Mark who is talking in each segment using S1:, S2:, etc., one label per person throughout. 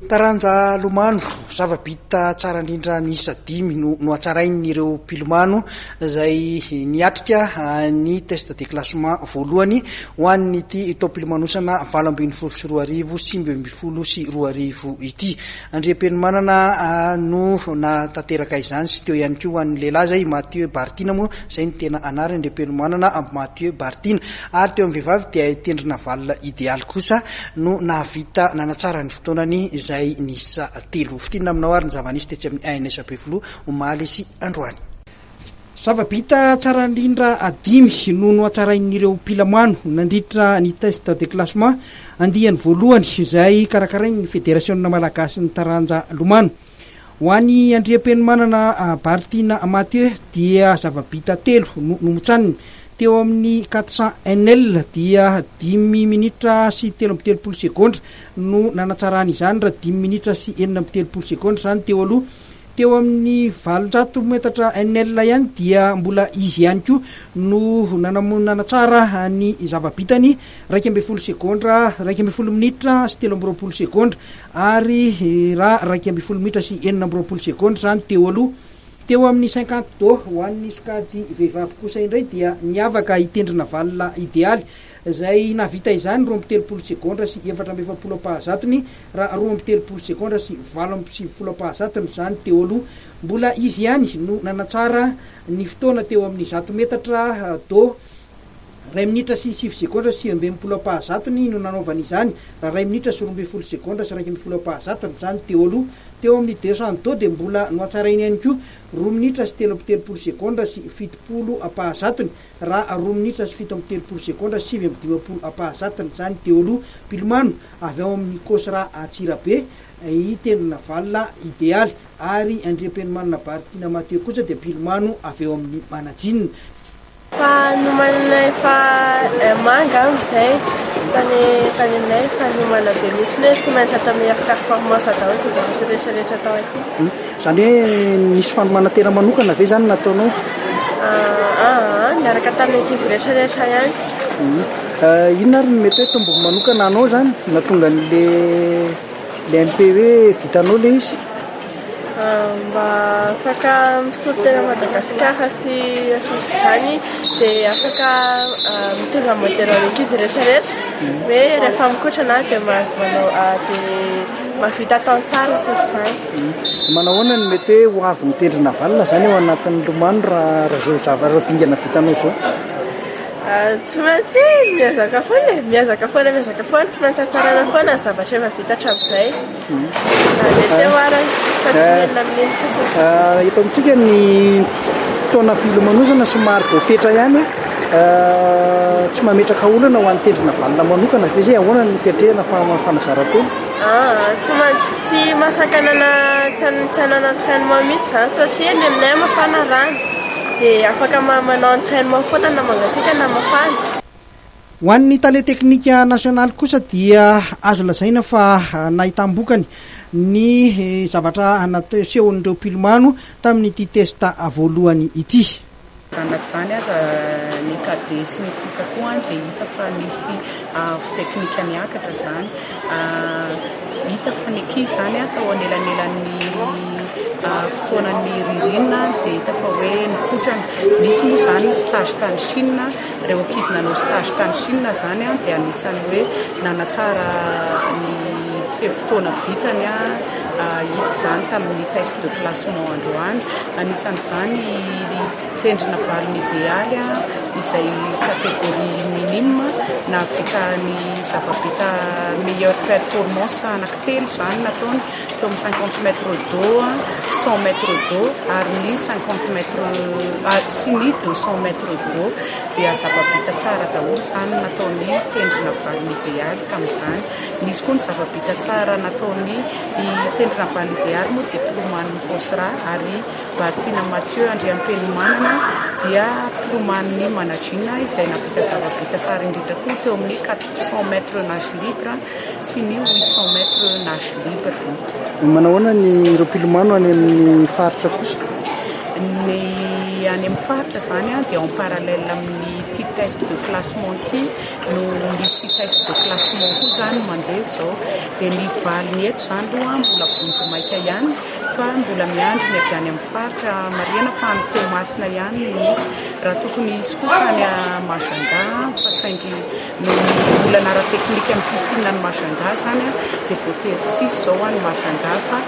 S1: Taranja lomano, zava-bita tsara indrindra miisa dimy no nohatsarain'ireo mpilomano izay niatrika ny test de classement voalohany ho an'ity taom-pilomanosana valo ambin'ny folo sy roa arivo sy sivy ambin'ny folo sy roa arivo ity. Andriampenomanana no nahatanteraka izany sy teo ihany koa ho an'ny lehilahy izay Mathieu Bartina moa izay no tena anarany, Andriampenomanana Mathieu Bartina. Ary teo amin'ny vehivavy dia i Tendry Navalona Idealy kosa no nahavita nanatsara ny fotoanany izay niisa telo. Fintinina aminao ary ny zava-nisy tetsy amin'ny ANS Befiloha omaly sy androany. Zava-bita tsara indrindra dimy no nohatsarain'ireo mpilamano nandritra ny test de classement andiany voalohany izay karakarain'ny Federasionina Malagasin'ny Taranja Lomano. Ho an'i Andriampenomanana Bartina Mathieu dia zava-bita telo no nomotsaniny. Teo amin'ny 400 NL dia dimy minitra sy telo amby telopolo segondra no nanatsarany izany raha dimy minitra sy enina amby telopolo segondra izany teo aloha. Teo amin'ny valonjato metatra NL ihany dia mbola izy ihany koa no nanam- nanatsara ny zava-bitany iraika ambin'ny folo segondra, iraika ambin'ny folo minitra sy telo amby roapolo segondra. Ary raha iraika ambin'ny folo minitra sy enina amby roapolo segondra izany teo aloha, teo amin'ny cinquante do ho an'ny sokajy vehivavy kosa indray dia niavaka i Tendrina Valona Idealy izay nahavita izany roa amby telopolo segondra sy efatra amby efapolo am-pahazatony raha roa amby telopolo segondra sy valo amby sivifolo am-pahazatony izany teo aloha. Mbola izy ihany no nanatsara ny fotoana teo amin'ny zato metatra do. Iray minitra sy sivy segondra sy sivy ambin'ny folo ampahazatony no nanaovany izany, raha iray minitra sy roa ambin'ny folo segondra sy iraika ambin'ny folo ampahazatony izany teo aloha. Teo amin'ny deux cents do dia mbola nohatsarainy ihany koa, roa minitra sy telo amby telopolo segondra sy fitopolo ampahazatony, raha roa minitra sy fito amby telopolo segondra sy sivy amby dimampolo ampahazatony izany teo aloha. Mpilomano avy ao amin'ny Cosra Antsirabe, i Tendrona Valona Idealy ary Andriampenomanana Baritiana Mathieu kosa dia mpilomano avy ao amin'ny Manadinina. Fa
S2: nomaninay fa manga an zay tany tany aminay fa nomana be mihitsy hoe tsy maintsy atao meilleur performance daholo zay zavatra rehetra rehetra atao aty. Zany hoe
S1: nisy fanomanantena manokana ve zany nataonao? Aa
S2: niaraka tamin'ny ankizy rehetra rehetra ihany.
S1: Inona ary no mety hoe tombony manokana anao zany nahatonga an'le le MP hoe vitanao le izy?
S2: Mba afaka misolo tena an'i Madagasikara sy ankoatra izany dia afaka mitondra modèle ho an'ankizy rehetra rehetra hoe rehefa mikotrana dia mahazo manao dia mahavita tantsaha sy ohatr'izany. Manao ahoana
S1: no mety hoe ho avy ny tendry navalona izany ao anatin'ny lomano raha izao zavatra dingana vitanao izao?
S2: Tsy maintsy miezaka foana e, miezaka foana, miezaka foana, tsy maintsy hatsaraina foana ny zavatra efa vita hatramin'izay. Eto amintsika ny
S1: fotoana filomanosana somary vao fetra ihany, tsy mametraka olana ho an'ny tendrona vanona manokana ve zay? Ahoana ny fiatrehana fa fanazaran-tena? Tsy
S2: tsy mahasakanana tsy hanana entrainement mihitsy zany satria ny aminay mafana rano dia afaka manao entrainement foana na mangatsiaka na mafana. Ho
S1: an'ny Tale teknika nasionaly kosa dia azo lazaina fa nahitam-bokany ny zavatra nasehon'ireo mpilomano tamin'ity test voalohany ity. Zanak'izany
S3: aza, ny cadet sy ny sisa koa dia hita fa misy avo teknika miakatra izany. Hita fa ny ankizy izany atao anelanelan'ny fotoanan'ny ririnina dia hita fa hoe nikotrana. Nisy moa izany stage tany Chine, ireo ankizy nanao stage tany Chine izany dia anisan'ny hoe nanatsara ny fe-potoana vitany hita izany tamin'ny test de classement androany. Anisan'izany Tendrena valiny idealy izay catégorie minime nahavita ny zava-bita meilleure performance anaky telo izany nataony teo amin'ny cinquante mètres d'eau, cent mètres d'eau ary ny cinquante mètres sy ny deux cents mètres d'eau dia zava-bita tsara daholo izany nataony tendrena valiny idealy tamin'izany. Nisy koa ny zava-bita tsara nataony tendrena valiny idealy moa diplôman'i Bosra ary Bartina Mathieu Andriampenomanana dia mpiloman'ny Managina izay nahavita zava-bita tsara indrindra koa teo amin'ny quatre cents mètres nage libre sy ny huit cents mètres nage libre. Manao ahoana
S1: ny ireo mpilomano any amin'ny faritra kosa? Ny
S3: any amin'ny faritra izany a, dia en
S1: parallèle
S3: amin'ny ity test de classement ity no misy test de classement koa izany mandeha izao, dia ny valiny eto izany aloha mbola vonjimaika ihany. fa mbola miandry ny avy any amin'ny faritra. Marihana fa any Toamasina ihany no misy. Raha tokony hisy koa tany Majunga fa saingy noho ny olana ara-teknika amin'ny piscine any Majunga izany dia voatery tsy hisy izao any Majunga fa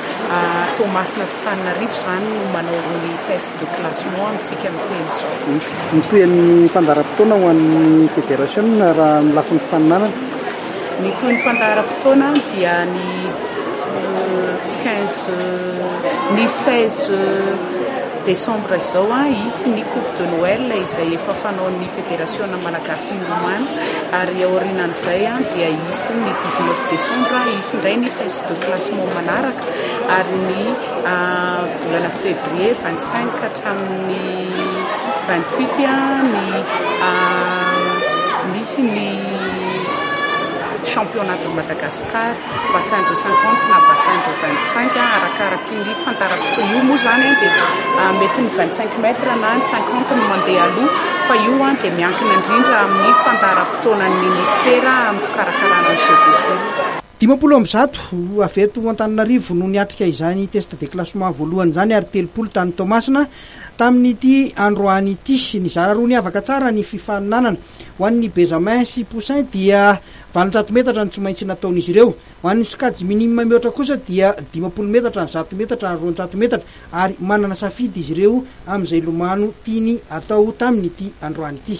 S3: Toamasina sy Tananarivo izany no manao ny test de classement amintsika amin'ny teny izao. Ny tohin'ny
S1: fandaharam-potoana ho an'ny federasiona raha amin'ny lafiny faninanana. Ny
S3: tohin'ny fandaharam-potoana dia ny quinze ny seize desambra izao hisy ny coupe de Noël izay efa fanaon'ny federasiona malagasy milomano ary aorianan'izay dia hisy ny dix neuf desambra hisy indray ny test de classement manaraka ary ny volana fevrier vingt cinq ka hatramin'ny vingt huit ny misy ny Championnat de Madagascar, bassin de cinquante na bassin de vingt cinq arakaraky ny fantarako koa io moa zany dia mety ny vingt cinq mètre na ny cinquante no mandeha aloha fa io dia miankina indrindra amin'ny fandaharam-potoanan'ny ministera amin'ny fikarakarana ny jeux des Îles. Dimampolo amby zato
S1: avy eto Antananarivo no niatrika izany test de classement voalohany izany ary telopolo tany Toamasina tamin'ity androany ity. Nizara roa niavaka tsara ny fifaninanana. Ho an'ny Bezamin sy Poussin dia valonjato metatra no tsy maintsy nataon'izy ireo. Ho an'ny sokajy minime mihoatra kosa dia dimampolo metatra, zato metatra ary roanjato metatra ary manana safidy izy ireo amin'izay lomano tiany atao tamin'ity androany ity.